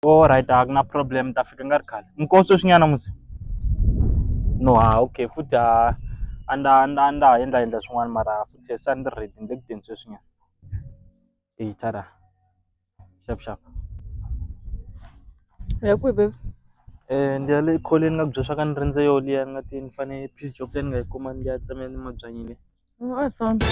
Alright a ku na problem ni ta fika ni nga ri khale nkosi sweswi nyana musi no ha okay futhi ha a ndza a ndza a ndza ha endla endla swin'wana mara futhi se a ni ri ready ni le ku teni sweswi nyana e tshada xap xap u ya kwihi baby ni ya le kholweni ni nga ku byela swa ku a ni rindze yo liya ni nga te ni fane peace job leyi ni nga yi kuma ni ya tsemela ni mabyanyi le. Wansati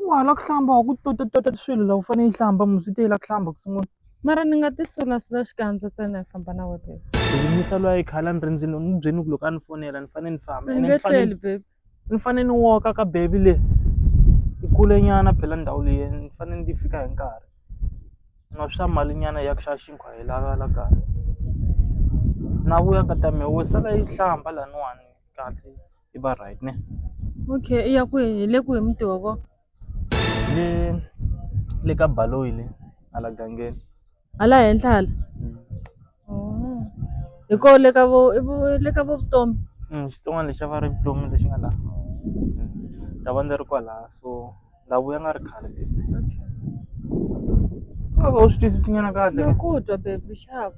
wa hala ku hlamba wa ku tota tota swilo la u fanele yi hlamba musi te la ku hlamba ku sungula mara ni nga ti sulasula xikandza ntsena hi famba na wena yimisa lwa yi khala ni rindzini ni byeni ku loko a ni fonela ni fanele ni famba ni tleli baby ni fanele ni woka ka baby le yi kule nyana phela ndhawu leyi ni fanele ni fika hi nkarhi nga swa mali nyana ya ku xava xinkwa hi lava la kaya na vuya ka ta mi wo sala yi hlamba laniwani kahle. yi va right ne okay i ya ku hi le ku hi mutoko le le ka baloyi le hala gangeni hala henhla hala mm. oh. hi ko le ka vo le ka vo vutomi mm, xitsongwana lexi a va ri vutomi lexi nga laha mm. ta va ndzi ri kwalaha so ndhawu ya nga ri khale baby a va u swi twisisinyana kahle ku twa baby xava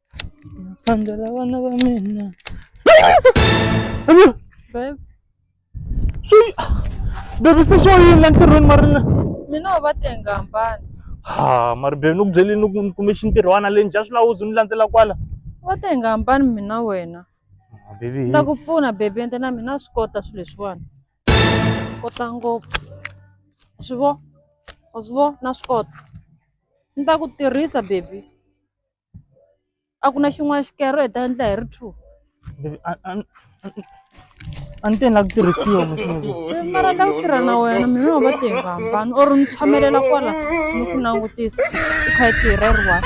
Phandela vana va mina. Babe, Swi baby se swo yini la ntirhweni marina. mina u va tenga hambana. Ha mari baby ni ku byele ni ku ni kume xintirhwana le njha swi lawuzi ni landzela kwala. U va tenga hambana mina wena. Ah, Baby Ni hi. ta ku pfuna babe ende na mina swi kota swilo leswiwani. Swi kota ngopfu. Wa Swi vo? Wa swi vo? Na swi kota. Ni ta ku tirhisa baby. a ku na xin'wana xikero hi ta endla hi ri two Baby, a- a- a- a ni te ni lava ku tirhisiwa musuku mara la ku tirha na wena mina wa va tirha hambana or ni tshamelela kwala ni ku langutisa u kha yi tirha yi ri one